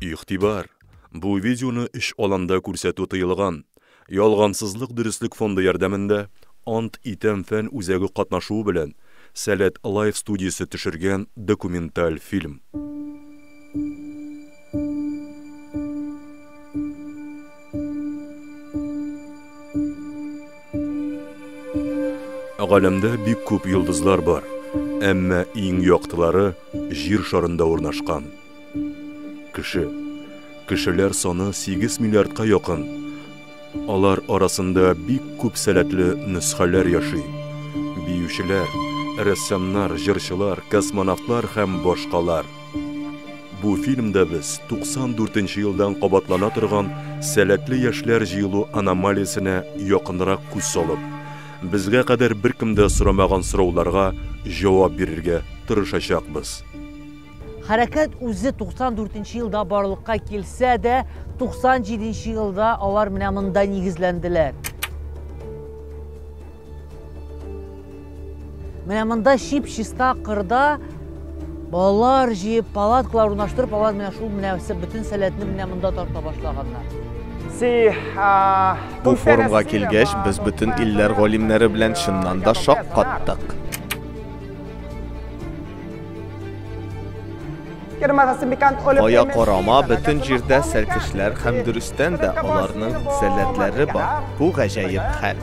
Игътибар! Бу видеоны эш аланда күрсәтү тыелган. Ялгансызлык дөреслек фонды ярдәмендә Ант итәм фән үзәге катнашуы белән Сәләт Лайф студиясе төшергән документаль фильм. Галәмдә бик күп йолдызлар бар, әмма иң яктылары җир шарында урнашкан. Кеше. Кешеләр саны 8 миллиардка якын. Алар арасында бик күп сәләтле нөсхәләр яши. Биючеләр, рәссамнар, җырчылар, космонавтлар һәм башкалар. Бу фильмда без 94 нче елдан кабатлана торган сәләтле яшьләр җыелу аномалиясенә якынрак күз салып, безгә кадәр беркем дә сорамаган сорауларга җавап бирергә тырышачакбыз. Хәрәкәт үзе 94 нче елда барлыкка килсә дә, 97 нче елда алар менә монда нигезләнделәр. Менә монда чип чиста кырда балалар җыеп, палаткалар урнаштырып, алар менә шул менә бөтен сәләтне менә монда тарта башлаганнар. Бу форумга килгәч, без бөтен илләр галимнәре белән чыннан да шаккаттык. Ая карама бөтен җирдә сәлкешләр һәм дөрестән дә аларның сәләтләре бар. Бу гаҗәеп хәл.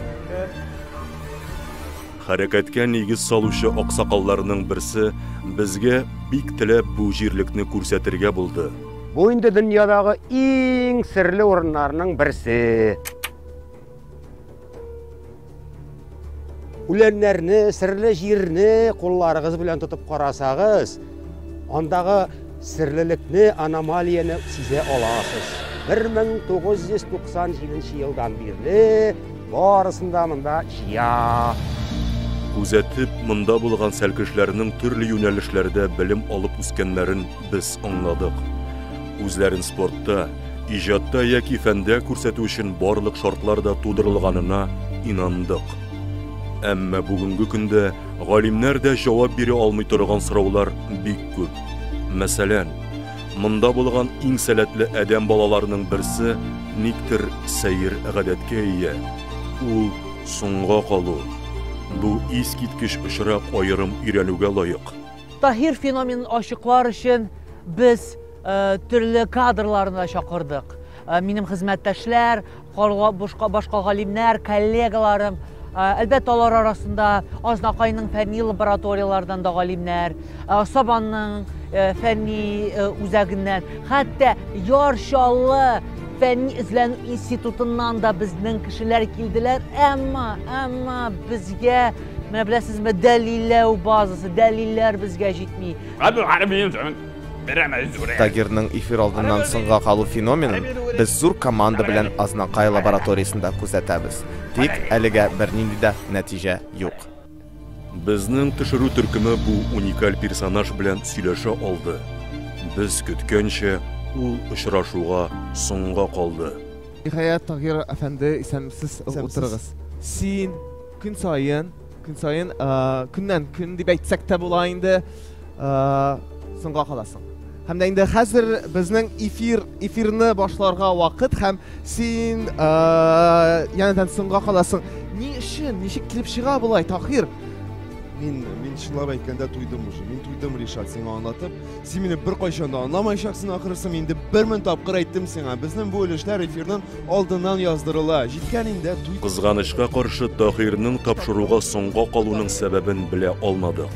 Хәрәкәткә нигез салучы аксакалларның берсе безгә бик теләп бу җирлекне күрсәтергә булды. Бу инде дөньядагы иң серле урыннарның берсе. Үләннәрне, серле җирне кулларыгыз белән тотып карасагыз, андагы серлелекне, аномалияне сизә аласыз. 1997 елдан бирле барысында монда чия. Күзәтеп, монда булган сәлкешләрнең төрле юнәлешләрдә белем алып үскәннәрен Без аңладык. Үзләрен спортта, иҗатта яки фәндә күрсәтү өчен барлык шартлар да тудырылганына инандык. Әмма бүгенге көндә галимнәр дә җавап бирә алмый торган сораулар бик күп. Мәсәлән, монда булган иң сәләтле адәм балаларының берсе никтер сәер гадәткә ия. Ул соңга калу. Бу искиткеч очрак аерым өйрәнүгә лаек. Таһир феноменын ачыклар өчен без төрле кадрларны да чакырдык. Минем хезмәттәшләр, башка галимнәр, коллегаларым, әлбәттә алар арасында Азнакайның фәнни лабораторияләрдән дә галимнәр, Сабанның фәнни үзәгеннән, хәтта Яр Чаллы фәнни эзләнү институтыннан да безнең кешеләр килделәр, әмма, әмма безгә Менә беләсезме, дәлилләү базасы, дәлилләр безгә җитми. Тагирның эфир алдыннан соңга калу феноменын без зур команда белән Азнакай лабораториясендә күзәтәбез. Тик әлегә бернинди дә нәтиҗә юк. Безнең төшерү төркеме бу уникаль персонаж белән сөйләшә алды. Без көткәнчә, ул очрашуга соңга калды. Ниһаять, Тагир әфәнде, исәнмесез, утырыгыз. Син, Көн саен, көн саен, көннән көн дип әйтсәк тә була инде, соңга каласың. Һәм дә инде хәзер безнең эфир, эфирны башларга вакыт һәм син янәдән соңга каласың. Ни өчен, ничек килеп чыга болай, Тахир? Мин, мин чынлап әйткәндә туйдым уже. Мин туйдым, Ришат, сиңа аңлатып. Син мине бер кайчан да аңламаячаксың ахрысым, инде бер мең тапкыр әйттем сиңа. Безнең бу өлешләр эфирның алдыннан яздырыла. Җиткән инде туй. Кызганычка каршы, Таһирның тапшыруга соңга калуның сәбәбен белә алмадык.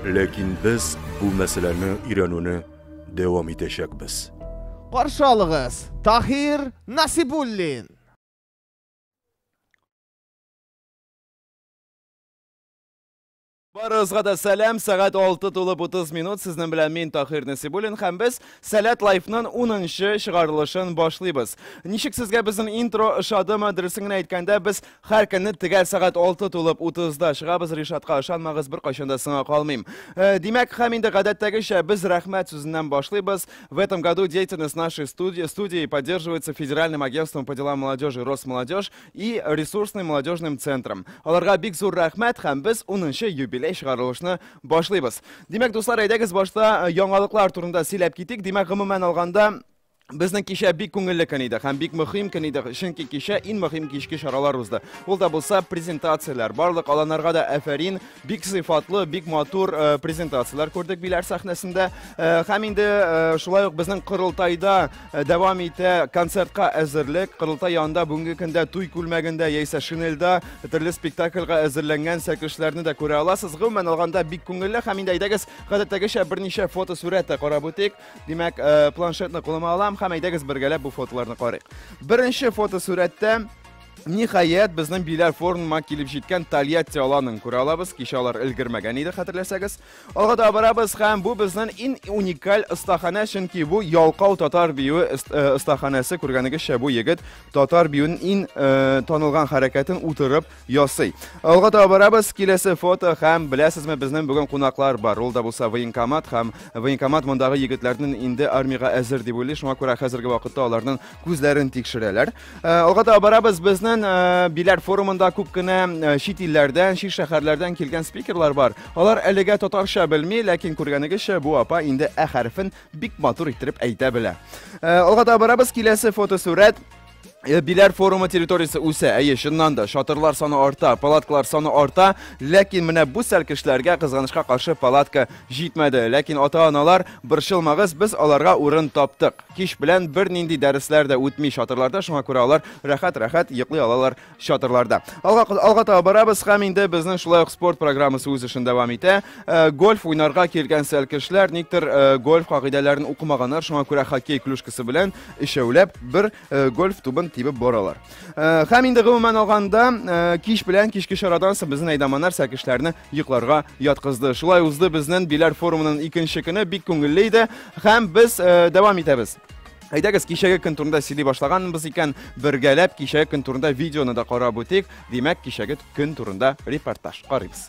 Ләкин без бу мәсьәләне өйрәнүне дәвам итәчәкбез. Каршы алыгыз, Таһир Насибуллин! Барыгызга да сәлам! Сәгать алты тулып утыз минут. Сезнең белән мин Таһир Насибуллин һәм без Сәләт Лайфның унынчы чыгарылышын башлыйбыз. Ничек сезгә безнең интро ошадымы? Дөресен генә әйткәндә, без һәр көнне төгәл сәгать алты тулып утызда чыгабыз. Ришатка ышанмагыз, беркайчан да сыңа калмыйм. Э, Димәк, һәм инде гадәттәгечә без рәхмәт сүзеннән башлыйбыз. В этом году деятельность нашей студии, студии поддерживается Федеральным агентством по делам молодежи Росмолодежь и ресурсный молодежным центрам. Аларга бик зур рәхмәт һәм без 10 юбилей чыгарылышны башлыйбыз. Димәк, дуслар, әйдәгез башта э, яңалыклар турында сөйләп китик. Димәк, гомумән алганда, Безнең кичә бик күңелле көн иде һәм бик мөһим көн иде, чөнки кичә иң мөһим кичке чаралар узды. Ул да булса презентацияләр. Барлык аланнарга да әфәрин, бик сыйфатлы, бик матур э, презентацияләр күрдек биләр сәхнәсендә. Э, һәм инде э, шулай ук безнең корылтайда Э, дәвам итә концертка әзерлек. Кырылтай янында бүгенге көндә туй күлмәгендә яисә шинельдә төрле спектакльга әзерләнгән сәкешләрне дә күрә аласыз. Гомумән алганда бик күңелле һәм инде әйдәгез гадәттәгечә берничә фотосурәт тә карап үтик. Димәк, э, планшетны кулыма алам һәм әйдәгез бергәләп бу фотоларны карыйк. Беренче фотосурәттә Ниһаять, безнең Биләр форумына килеп җиткән Тольятти аланын күрә алабыз. Кичә алар өлгермәгән иде, хәтерләсәгез. Алга таба барабыз һәм бу безнен ин уникаль остаханә, чөнки бу ялкау татар биюе остаханәсе. Э, Күргәнегезчә, бу егет татар биюен ин э, танылган хәрәкәтен утырып ясый. Алга таба барабыз, киләсе фото һәм беләсезме, безнен бүген кунаклар бар. Ул да булса военкомат һәм военкомат мондагы егетләрнен инде армига әзер дип уйлый. Шуңа күрә хәзерге вакытта аларның күзләрен тикшерәләр. Э, алга таба барабыз безнең э, биләр форумында күп кенә э, чит илләрдән чит шәһәрләрдән килгән спикерлар бар алар әлегә татарча белми ләкин күргәнегезчә бу апа инде ә хәрефен бик матур иттереп әйтә белә алга таба барабыз киләсе фотосурәт Э, Биләр форумы территориясе үсә, әйе, чыннан да, шатырлар саны арта, палаткалар саны арта, ләкин менә бу сәлкешләргә кызганычка каршы палатка җитмәде. Ләкин ата-аналар, борчылмагыз, без аларга урын таптык. Кич белән бернинди дәресләр дә үтми чатырларда, шуңа күрә алар рәхәт-рәхәт йоклый алалар чатырларда. Алга, алга таба барабыз һәм инде безнең шулай ук спорт программасы үз эшен дәвам итә. Э, гольф уйнарга килгән сәлкешләр никтер э, гольф кагыйдәләрен укымаганнар, шуңа күрә хоккей клюшкасы белән өчәүләп бер э, гольф тубын тибеп баралар. Э, һәм инде гомумән алганда э, кич белән кичке чарадан соң безнең әйдаманнар сәкешләрне йокларга яткызды шулай узды безнең биләр форумының икенче көне бик күңелле иде һәм без э, дәвам итәбез Әйдәгез, кичәге көн турында сөйли башлаганбыз икән, бергәләп кичәге көн турында видеоны да карап үтик. Димәк, кичәге көн турында репортаж карыйбыз.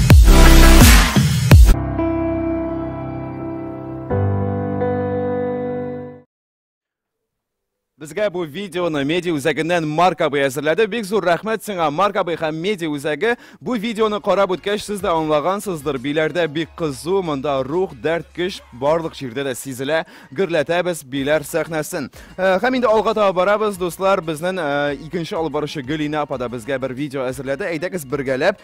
Безгә бу видеоны меди үзәгеннән Марк абый әзерләде. Бик зур рәхмәт сиңа, Марк абый һәм меди үзәге. Бу видеоны карап үткәч, сез дә аңлагансыздыр. Биләрдә бик кызу, монда рух, дәрт, көч барлык җирдә дә сизелә. Гөрләтәбез биләр сәхнәсен. Э, һәм инде алга таба барабыз, дуслар. Безнең э, икенче алып баручы Гөлинә апа да безгә бер видео әзерләде. Әйдәгез бергәләп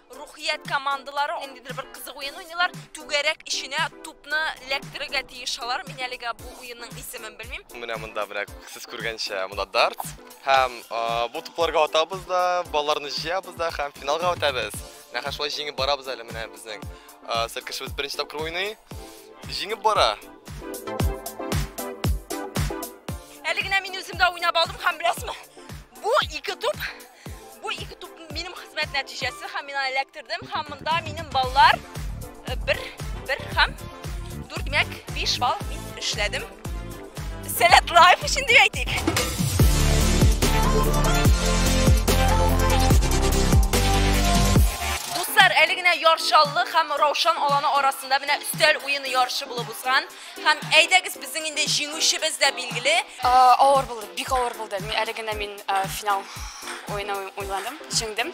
Рухият командалары ниндидер бер кызык уен уйныйлар. Түгәрәк эченә тупны эләктерергә тиеш алар. Мин әлегә бу уенның исемен белмим. Менә монда менә сез күргәнчә, монда дарт. Һәм бу тупларга атабыз да, балларны җыябыз да һәм финалга үтәбез. Менә хәзер шулай җиңеп барабыз әле менә безнең сер кешебез беренче тапкыр уйный. Җиңеп бара. Әле генә мин үзем дә уйнап алдым һәм беләсезме, бу ике туп Бу ике туп минем хезмәт нәтиҗәсе һәм мин аны эләктердем һәм монда минем баллар э, бер бер һәм дүрт мәк биш балл мин эшләдем. Сәләт лайф өчен дип әйтик. Дуслар, әле генә яршаллы һәм раушан аланы арасында менә өстәл уены ярышы булып узган. Һәм әйдәгез безнең инде җиңүчебез дә билгеле. Авыр булды, бик авыр булды. Мин әле генә мин финал уены уйладым, җиңдем.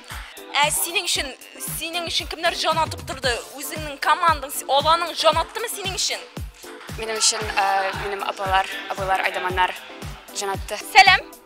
Ә синең өчен, синең өчен кемнәр җан атып торды? Үзеңнең командаң, аланың җан аттымы синең өчен? Минем өчен минем апалар, абыйлар, айдаманнар җан атты. Сәлам!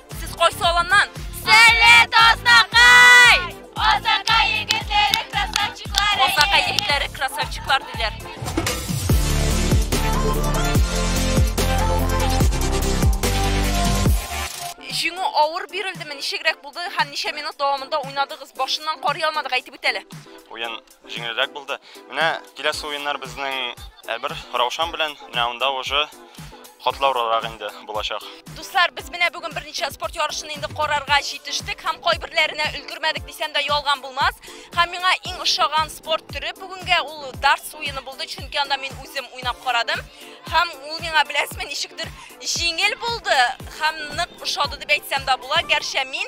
Сез кайсы аланнан? Сәләт Азнакай! Азнакай егетләре красавчиклары! Азнакай егетләре красавчиклар диләр. Җиңү авыр бирелдеме? Ничегрәк булды һәм ничә минут дәвамында уйнадыгыз? Башыннан карый алмадык, әйтеп үт әле. Уен Җиңелрәк булды. Менә киләсе уеннар безнең әбер Раушан белән, менә анда уже котлаурырак инде булачак. Дуслар, без менә бүген берничә спорт ярышын инде карарга җитештек һәм кайберләренә өлгермәдек дисәм дә ялган булмас. Һәм миңа иң ошаган спорт төре бүгенгә ул дартс уены булды, чөнки анда мин үзем уйнап карадым. Һәм ул миңа беләсезме, ничектер җиңел булды һәм нык ошады дип әйтсәм дә була. Гәрчә мин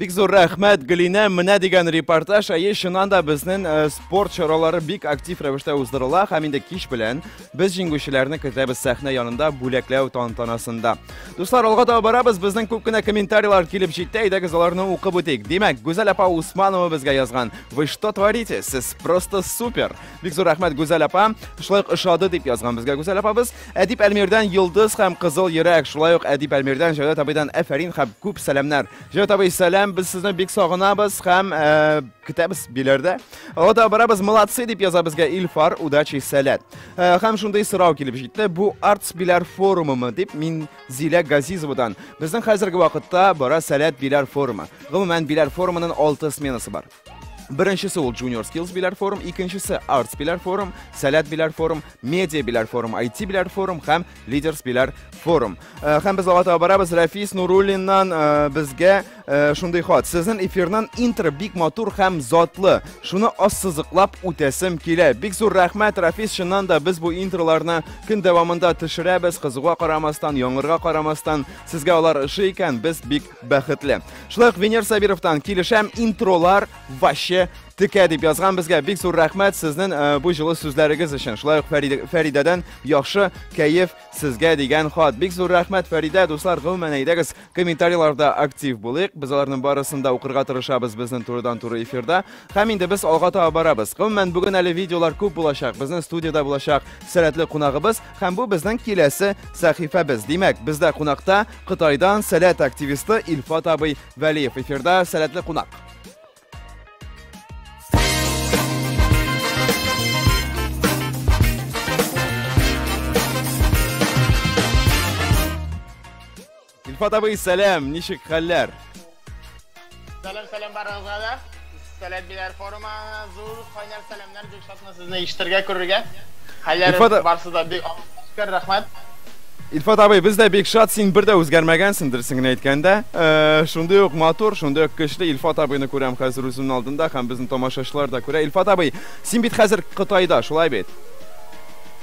Бик зур рәхмәт, Гөлинә, менә дигән репортаж. Әйе, чыннан да безнең э, спорт чаралары бик актив рәвештә уздырыла һәм инде кич белән без җиңүчеләрне көтәбез сәхнә янында бүләкләү тантанасында. Дуслар, алга таба барабыз, безнең күп кенә комментарийлар килеп җитте, әйдәгез аларны укып үтик. Димәк, Гүзәл апа Усманова безгә язган. Вы что творите? Сез просто супер. Бик зур рәхмәт, Гүзәл апа. Шулай ук ошады дип язган безгә Гүзәл апабыз. Әдип Әлмирдән Йолдыз һәм Кызыл йөрәк, шулай ук Әдип Әлмирдән Җәүдәт абыйдан әфәрин һәм күп сәламнәр. Җәүдәт абый, сәлам, без сезне бик сагынабыз һәм ә, көтәбез биләрдә. Алга таба барабыз, молодцы дип яза безгә Илфар, удачи, сәләт. Ә, һәм шундый сорау килеп җитте, бу Артс биләр форумымы дип мин Зилә Газизовадан. Безнең хәзерге вакытта бара сәләт биләр форумы. Гомумән биләр форумының 6 сменасы бар. Беренчесе ул Junior Skills Bilar Forum, икенчесе Arts Bilar Forum, Сәләт Bilar Forum, Media Bilar Forum, IT Bilar Forum һәм Leaders Bilar Forum. Э, һәм без алга таба барабыз Рафис Нуруллиннан э, безгә э, шундый хат. Сезнең эфирнан интро бик матур һәм затлы. Шуны ассызыклап үтәсем килә. Бик зур рәхмәт Рафис, чыннан да без бу интроларны көн дәвамында төшерәбез, кызыгуга карамастан, яңгырга карамастан. Сезгә алар ошый икән, без бик Бәхетле. Шулай ук Венер Сабировтан килешәм, интролар ваще текә дип язган безгә. Бик зур рәхмәт сезнең э, бу җылы сүзләрегез өчен. Шулай ук Фәридәдән яхшы кәеф сезгә дигән хат. Бик зур рәхмәт Фәридә, дуслар, гомумән әйдәгез, комментарийларда актив булыйк. Без аларның барысын да укырга тырышабыз безнең турыдан туры эфирда. Һәм инде без алга таба барабыз. Гомумән бүген әле видеолар күп булачак. Безнең студияда булачак сәләтле кунагыбыз һәм бу безнең киләсе сәхифәбез. Димәк, бездә кунакта Кытайдан сәләт активисты Илфат абый Вәлиев эфирда сәләтле кунак. Илфат абый, сәлам, ничек хәлләр? Сәлам, сәлам барыгызга да. Сәлам биләр форумы зур кайнар сәламнәр бик шатмын сезне ишетергә күрергә. Хәлләр барсы да бик шөкер, рәхмәт. Илфат абый, без дә бик шат, син бер дә үзгәрмәгәнсең, дөресен генә әйткәндә. Э, шундый ук матур, шундый ук көчле Илфат абыйны күрәм хәзер үземнең алдында һәм безнең тамашачылар да күрә. Илфат абый, син бит хәзер Кытайда, шулай бит?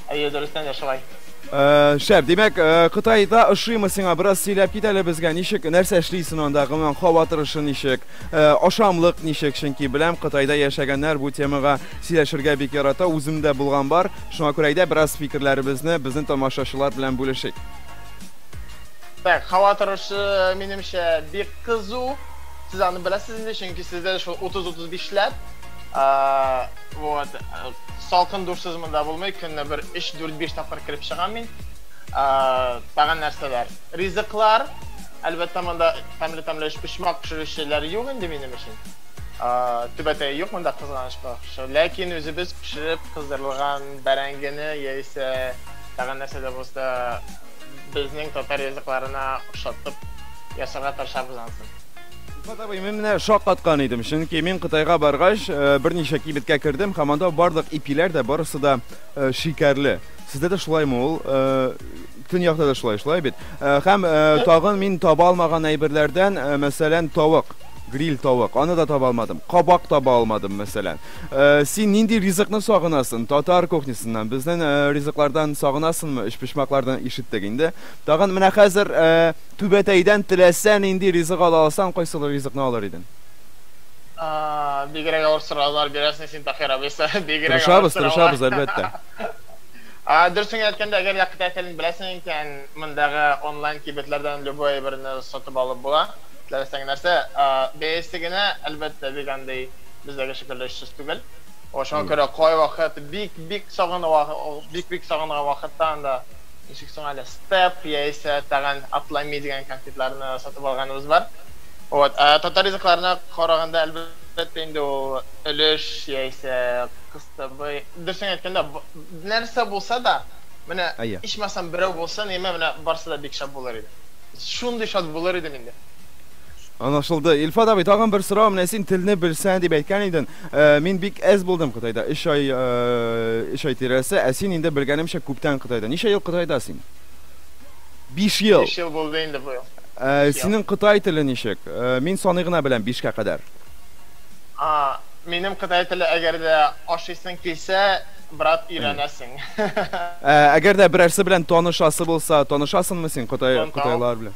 Әйе, дөрестән дә шулай. Э, шәп, димәк, э, Кытайда ошыймы сиңа? Бераз сөйләп кит әле безгә. Ничек, нәрсә эшлисең анда? Гомумән, һава торышы ничек? Э, ашамлык ничек? Чөнки беләм, Кытайда яшәгәннәр бу темага сөйләшергә бик ярата. Үзем дә булган бар. Шуңа күрә әйдә бераз фикерләребезне безнең тамашачылар белән бүлешик. Так, һава торышы, минемчә, бик кызу. Сез аны беләсез инде, чөнки сездә шул 30-35 ләп. Вот. салкын душсыз монда булмый, көнне бер 3-4-5 тапкыр кереп чыгам мин. Тагын нәрсәләр? Ризыклар. Әлбәттә, монда тәмле тәмле почмак пешерүчеләр юк инде минем өчен. Түбәтәе юк монда кызганычка. Ләкин үзебез пешереп кыздырылган бәрәңгене яисә тагын нәрсә дә булса безнең татар ризыкларына ошатып ясарга тырышабыз ансын. Илфат абый, мин менә шаккаткан идем, чөнки мин Кытайга баргач, э, берничә кибеткә кердем һәм анда барлык ипиләр дә барысы да э, шикәрле. Сездә дә шулаймы ул? Э, Төньякта да шулай, шулай бит. Э, Һәм э, тагын мин таба алмаган әйберләрдән, э, мәсәлән, тавык, гриль тавык, аны да таба алмадым. Кабак таба алмадым, мәсәлән. Э, Син нинди ризыкны сагынасың? Татар кухнясыннан, безнең э, ризыклардан сагынасыңмы? Өчпочмаклардан ишеттек инде. Тагын менә хәзер э, Түбәтәйдән теләсә нинди ризык ала алсаң, кайсылы ризыкны алыр идең? Ааа, бигрәк авыр сораулар бирәсең син, Таһир абый, са, бигрәк авыр Тырышабыз, сораулар. тырышабыз, әлбәттә. А, дөресен генә әйткәндә, әгәр дә кытай телен беләсең икән, мондагы онлайн кибетләрдән любой әйберне сатып алып була, теләсәң нәрсә. А, бәясе генә, әлбәттә, бик андый бездәге шикелле очсыз түгел. Ошуга күрә кайвакыт бик-бик сагынуга, бик-бик сагынган вакытта анда, Ничек соң әле степ яисә тагын атлами дигән конфетларны сатып алганыбыз бар. Вот, ә татар ризыкларына караганда, әлбәттә инде ул өлеш яисә кыстыбый. Дөресен әйткәндә, нәрсә булса да, менә ичмасам берәү булсын, яме менә барсы да бик шәп булыр иде. Шундый шат булыр идем инде. Анашылды. Илфат абый, тагын бер сорау, менә син телне белсән дип әйткән иден. Э, мин бик әз булдым Кытайда, өч ай, э, өч ай тирәсе, ә син инде белгәнемчә күптән Кытайда. Ничә ел Кытайда син? Биш ел. Биш ел булды инде быел. Э, Биш ел. синең кытай теле ничек? Э, мин саный гына беләм бишкә кадәр. А, минем кытай теле әгәр дә ашыйсың килсә, брат, өйрәнәсең. Ә, әгәр дә берәрсе белән танышасы булса, танышасыңмы син кытай, Тонтау. кытайлар белән?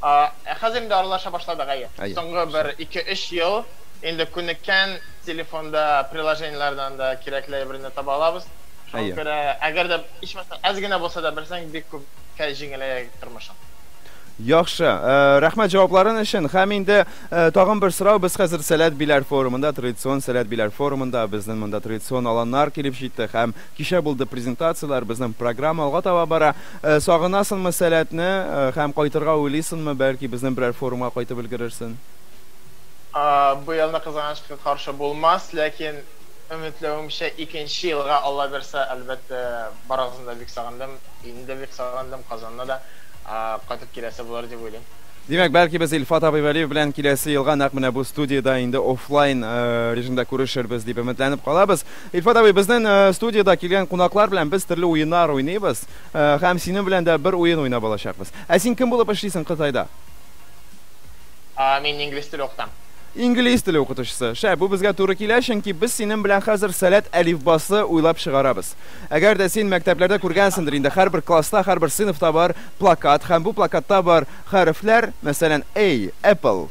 А, ә хәзер инде аралаша башладык, әйе. Әйе, Соңгы бер шәп. ике-өч ел инде күнеккән, телефонда, приложениеләрдән дә кирәкле әйберне таба алабыз. Шуңа Әйе. күрә, әгәр дә, ичмасам, әз генә булса да белсәң, бик күпкә җиңеләя тормышың. Яхшы, э, рәхмәт җавапларын өчен. Һәм инде э, тагын бер сорау. Без хәзер Сәләт Биләр форумында, традицион Сәләт Биләр форумында, безнең монда традицион аланнар килеп җитте һәм Кичә булды презентацияләр, безнең программа алга таба бара. Сагынасынмы Сәләтне һәм кайтырга уйлыйсынмы, бәлки безнең берәр форумга кайтып өлгерерсен? Быел да кызганычка каршы булмас, ләкин өметләвемчә икенче елга Алла бирса, әлбәттә, барыгызны да бик сагындым, илне дә бик сагындым, Казанына да кайтып киләсе булыр дип уйлыйм. Димәк, бәлки без Илфат абый Вәлиев белән киләсе елга нәкъ менә бу студиядә инде офлайн режимда күрешербез дип өметләнеп калабыз. Илфат абый, безнен студиядә килгән кунаклар белән без төрле уеннар уйныйбыз. Һәм синен белән дә бер уен уйнап алачакбыз. Ә син кем булып эшлисең Кытайда? Мин инглиз теле укытам. Инглиз теле укытучысы. Шәп, бу безгә туры килә, чөнки без синен белән хәзер сәләт әлифбасы уйлап чыгарабыз. Әгәр дә син мәктәпләрдә күргәнсендер инде, һәрбер класста, һәрбер сыйныфта бар плакат һәм бу плакатта бар хәрефләр, мәсәлән, A, Apple.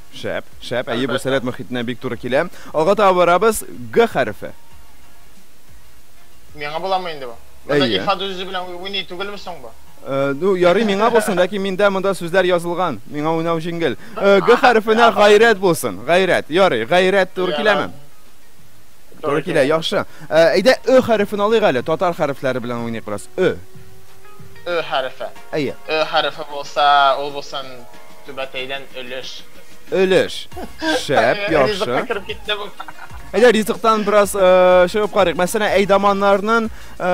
Шәп, шәп, әйе, бу сәләт мөхитенә бик туры килә. Алга таба барабыз, Г хәрефе. Миңа буламы инде бу? Монда Әйе. ифа дүзе белән уй- уйный түгелме соң бу? Э, Ну, ярый миңа булсын, ләкин миндә монда сүзләр язылган. Миңа уйнау җиңел. Э, Г хәрефенә гайрәт булсын. Гайрәт. Ярый, гайрәт туры киләме? Туры килә, яхшы. Э, Әйдә, Ö хәрефен алыйк әле. Татар хәрефләре белән уйныйк бераз. Ö. Ö хәрефе. Әйе. Ö хәрефе булса, ул булсын Түбәтәйдән өлеш. Өлеш. Шәп, яхшы. Ризыкка кереп китте бу. Әйдә ризыктан бераз э, чыгып карыйк. Мәсәлән, әйдаманнарның э,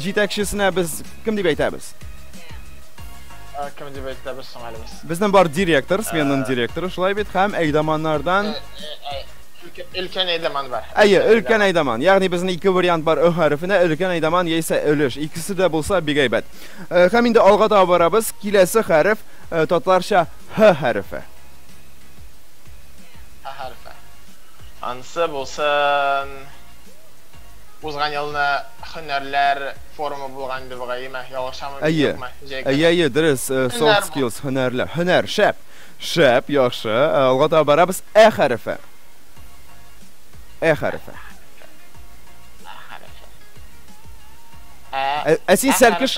җитәкчесенә без кем дип әйтәбез? Ә, Кем дип әйтәбез соң әле без? Безнең бар директор, сменның директоры шулай бит, һәм әйдаманнардан Өлкән әйдаман бар. Әйе, өлкән әйдаман. Ягъни безнең ике вариант бар ө хәрефенә, өлкән әйдаман яисә өлеш. Икесе дә булса бик әйбәт. Э, Һәм инде алга таба барабыз. Киләсе хәреф Э, Татларча Һ хәрефе. Һ хәрефе. Ансы булсын. Узган елны хөнәрләр форумы булган иде бугай, яме? Ялгышамы, мин Әйе. юкмы? Җәй Әйе, әйе, дөрес. Э, Soft skills, һөнәрләр. Һөнәр, шәп. Шәп, яхшы. Э, алга таба барабыз. Ә хәрефе. Ә хәрефе. Ә, ә син сәлкеш...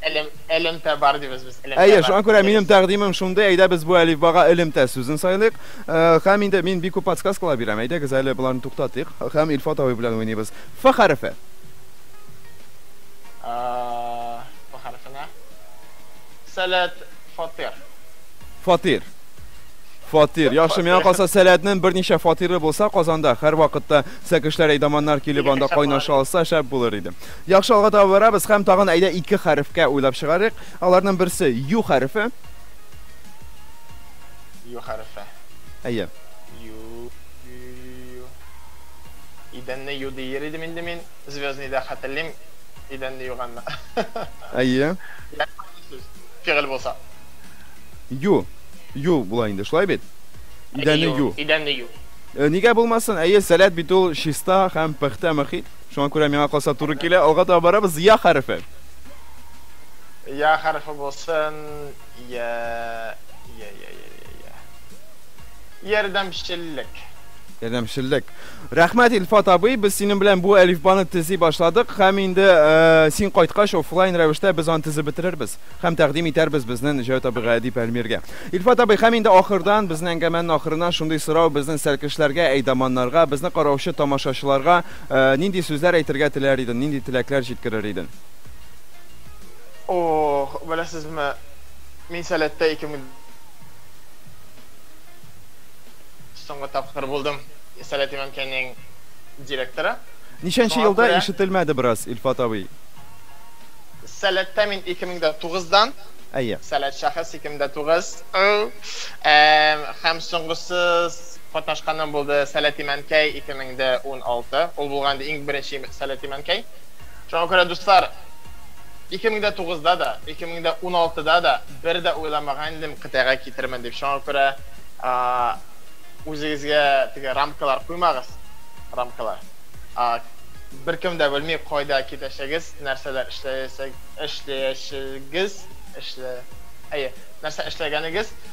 Элем, элемтә бар дибез без. Элемтә Әйе, шуңа күрә минем тәкъдимем шундый, әйдә без бу әлифбага элемтә сүзен сайлыйк. Э, һәм инде мин бик күп подсказкалар бирәм. Әйдәгез әле боларны туктатыйк һәм Илфат абый белән уйныйбыз. Ф хәрефе. Ф хәрефенә. Сәләт фатир. Фатир. Фатир. Яхшы, миңа калса сәләтнең берничә фатиры булса Казанда, һәрвакытта сәкешләр, әйдаманнар килеп анда кайнаша алса, шәп булыр иде. Яхшы, алга таба барабыз һәм тагын әйдә ике хәрефкә уйлап чыгарыйк. Аларның берсе ю хәрефе. Ю хәрефе. Әйе. Ю, ю, ю, ю, ю. Идәнне ю дияр идем инде мин. Звездныйда хәтерлим. Идәнне юганны. Әйе. Фигыль булса. Ю. Ю була инде, шулай бит? Идәнне ю. Идәнне ю. Э, нигә булмасын? Әйе, сәләт бит ул чиста һәм пөхтә мөхит. Шуңа күрә миңа калса туры килә. Алга таба барабыз. Я хәрефе. Я хәрефе булсын. Я, я, я, я, я, я. Ярдәмчеллек. Ярдәмчеллек. Рәхмәт, Илфат абый. Без синең белән бу әлифбаны төзи башладык һәм инде э, син кайткач офлайн рәвештә без аны төзеп бетерербез һәм тәкъдим итәрбез безнең Җәүт абыйга Әдип Әлмиргә. Илфат абый, һәм инде ахырдан, безнең әңгәмәнең ахырына шундый сорау безнең сәлкешләргә, әйдаманнарга, безне караучы тамашачыларга Нинди сүзләр әйтергә теләр иден, нинди теләкләр җиткерер иден? Ох, беләсезме, мин Сәләттә 2000 соңгы тапкыр булдым Сәләт имәнкәйнең директоры. Ничәнче елда күрә... ишетелмәде бераз, Илфат абый? Сәләттә мин 2009-дан. Әйе. Сәләт шәхес 2009. Һәм соңгысы Катнашканым булды Сәләти Мәнкәй 2016. Ул булган инде иң беренче Сәләти Мәнкәй. Шуңа күрә, дуслар, 2009-да да, 2016-да да бер дә уйламаган идем кытайга китермен дип. Шуңа күрә үзегезгә теге рамкалар куймагыз, рамкалар. Беркем дә белми кайда китәчәгез, нәрсәләр эшләячәгез, эшләячәгез, эшләячәгез, әйе, нәрсә эшләгәнегез.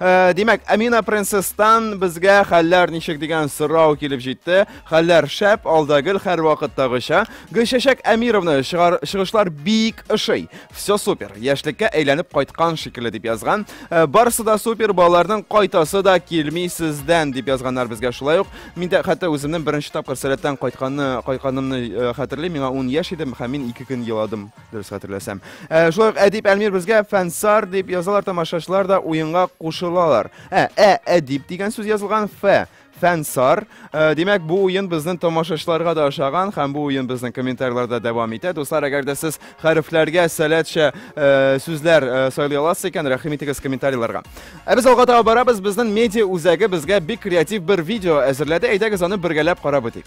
Э, димәк, Амина принцесстан безгә хәлләр ничек дигән сорау килеп җитте. Хәлләр шәп, алда гел һәрвакыттагыча. Гөлчәчәк Әмировны чыгышлар бик ошый. Все супер. Яшьлеккә әйләнеп кайткан шикелле дип язган. Э, барысы да супер, балаларның кайтасы да килми сездән дип язганнар безгә шулай ук. Мин дә хәтта үземнең беренче тапкыр сәләттән кайтканны, кайтканымны э, хәтерлим. Миңа 10 яшь идем һәм мин 2 көн еладым. дөрес хәтерләсәм. Ә, шулай ук Әдип Әлмир безгә фәнсар дип язалар, тамашачылар да уенга кушылалар. Ә, ә Әдип дигән сүз язылган фә фәнсар. Ә, димәк, бу уен безнең тамашачыларга да ошаган һәм бу уен безнең комментарийларда дәвам итә. Дуслар, әгәр дә сез хәрефләргә сәләтчә ә, сүзләр ә, сайлый аласыз икән, рәхим итегез комментарийларга. Ә без алга таба барабыз, безнең медиа үзәге безгә бик креатив бер видео әзерләде. Әйдәгез аны бергәләп карап үтик.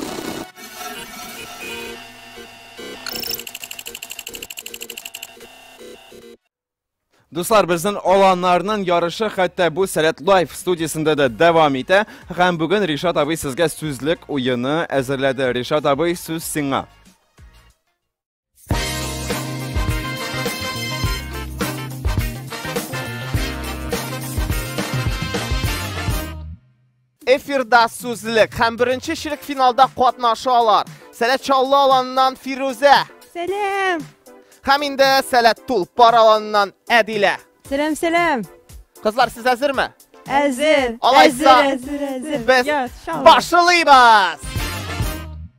Дуслар, безнең аланнарның ярышы хәтта бу Сәләт Лайф студиясендә дә дәвам итә. Һәм бүген Ришат абый сезгә сүзлек уены әзерләде. Ришат абый, сүз сиңа. Эфирда сүзлек һәм беренче чирек финалда катнашалар. Сәләт Чаллы аланыннан Фирүзә. Сәлам. Һәм инде Сәләт Тулпар аланыннан Әдилә. Сәлам, сәлам. Кызлар, сез әзерме? Әзер. Алайса, без башлыйбыз.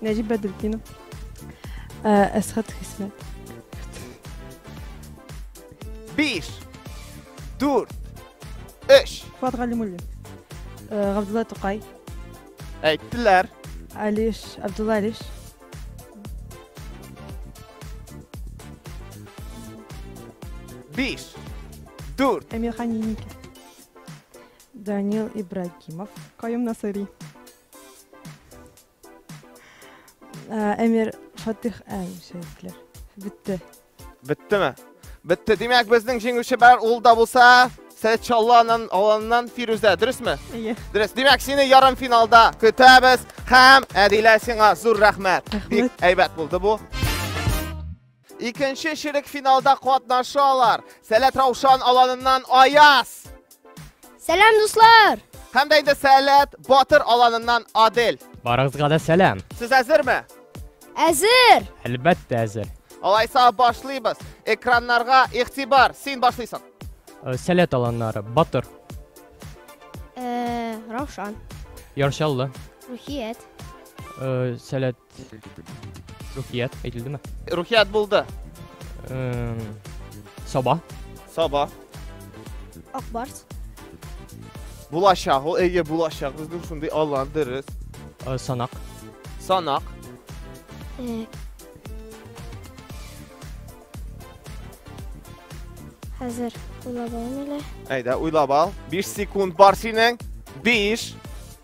Нәҗип Бәдретдинов. Э, Әсхат Хисмәт. Биш, дүрт, өч. Фуат Галимуллин. Э, Габдулла Тукай. Әйттеләр. Алиш, Абдулла Алиш. Биш, дүрт. Эмирхан Еникин. Данил Ибрагимов. Каюм Насыри. Әмир Фатих әмшәйтләр. Бетте. Беттеме? Бетте. Димәк, безнең җиңүче бар. Ул да булса Сәчалланан аланнан Фирүзә, дөресме? Иә. Дөрес. Димәк, сине ярым финалда көтәбез һәм Әдилә сиңа зур рәхмәт. Бик әйбәт булды бу. Икенче чирек финалда катнашалар. Сәләт Раушан аланыннан Аяз. Сәлам, дуслар! Һәм дә инде Сәләт Батыр аланыннан Адель. Барыгызга да сәлам. Сез әзерме? Әзер! Әлбәттә әзер. Алайса башлыйбыз. Экраннарга игътибар. Син башлыйсың. Э, Сәләт аланнары Батыр, Э, Раушан, Яршаллы, Рухият, э, Сәләт Рухият әйтелдеме? Рухият булды. Эм, Саба. Саба. Акбарс. Булачак, ул әйе булачак. Безнең шундый аллан дөрес. Э, Санак. Санак. Э, Хәзер уйлап алмыйлар. Әйдә, уйлап ал. 5 секунд бар синең. 5,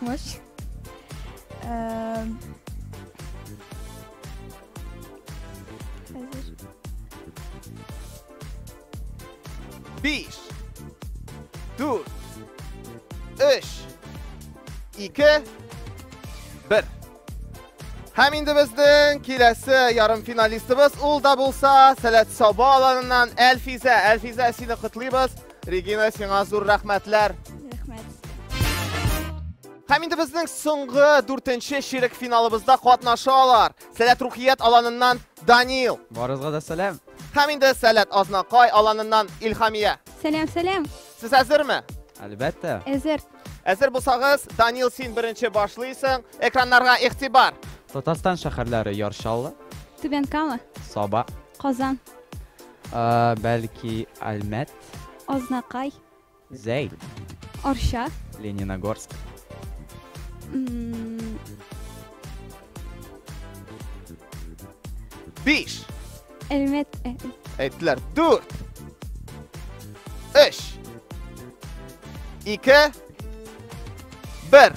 Мощь. Эм, Хәзер. Биш. Дүрт. Өч. Ике. Бер. Һәм инде безнең киләсе ярым финалистыбыз ул да булса Сәләт Саба аланыннан Әлфизә. Әлфизә, сине котлыйбыз. Регина, сиңа зур рәхмәтләр! Һәм инде безнең соңгы дүртенче чирек финалыбызда катнаша алар. Сәләт Рухият аланыннан Данил. Барызга да сәлам. Һәм инде Сәләт Азнакай аланыннан Илхамия. Сәлам, сәлам. Сез әзерме? Әлбәттә. Әзер. Әзер булсагыз, Данил син беренче башлыйсың. Экраннарга игътибар. Татарстан шәһәрләре Яршаллы. Түбән Кама. Саба. Казан. Бәлки Әлмәт. Азнакай. Зәй. Арча. Лениногорск. Биш. Әлмәт. Э, э. Әйттеләр. Дүрт. Өч. Ике. Бер.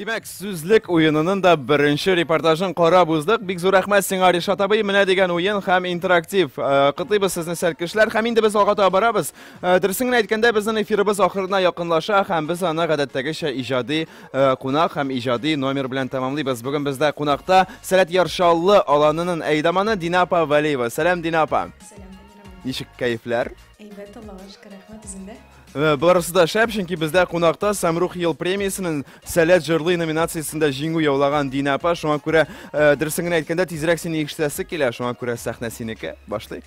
Димәк, сүзлек уенының да беренче репортажын карап уздык. Бик зур рәхмәт сиңа, Ришат абый. Менә дигән уен һәм интерактив. Э, Котыйбыз сезне сәл кешеләр. Һәм инде без алга таба барабыз. Э, Дөресен генә әйткәндә, безнең эфирыбыз ахырына якынлаша һәм без аны гадәттәгечә иҗади э, кунак һәм иҗади номер белән тәмамлыйбыз. Бүген бездә кунакта Сәләт Яршаллы аланының әйдаманы Дина апа Вәлиева. Сәлам, Дина апа. Сәлам, Ничек кәефләр? Әйбәт, Аллага шөкер, рәхмәт үзендә. Э, барысы да шәп, чөнки бездә кунакта Самрух ел премиясенең Сәләт җырлый номинациясендә җиңү яулаган Дина апа. Шуңа күрә э, дөресен генә әйткәндә, тизрәк сине ишетәсе килә. Шуңа күрә сәхнә синеке. Башлыйк.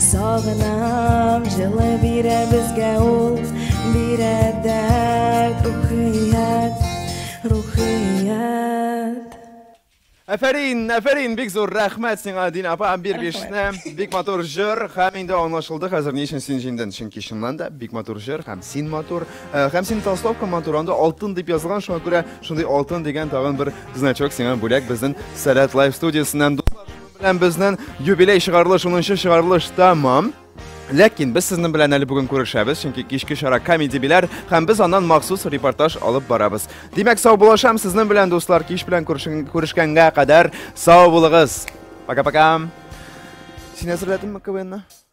Сагынам, җылы бирә безгә ул, бирә дәрт, рухият, рухият. Әфәрин, әфәрин, бик зур рәхмәт сиңа, Дин апа, бир бишне. Бик матур җыр, һәм инде аңлашылды хәзер ни өчен син җиңден. Чөнки чыннан да бик матур җыр, һәм син матур, э, һәм син толстовка матур, анда алтын дип язылган, шуңа күрә шундый алтын дигән тагын бер значок сиңа бүләк безнең Сәләт Лайф студиясеннән. Белән безнен юбилей чыгарылыш, 10 чыгарылыш тәмам. Ләкин без сезнең белән әле бүген күрешәбез, чөнки кичке чара комеди биләр, һәм без аннан махсус репортаж алып барабыз. Димәк, сау булашам сезнең белән, дуслар, кич белән күрешкәнгә кадәр сау булыгыз. Пока-пока. Син әзерләдеңме КВНны?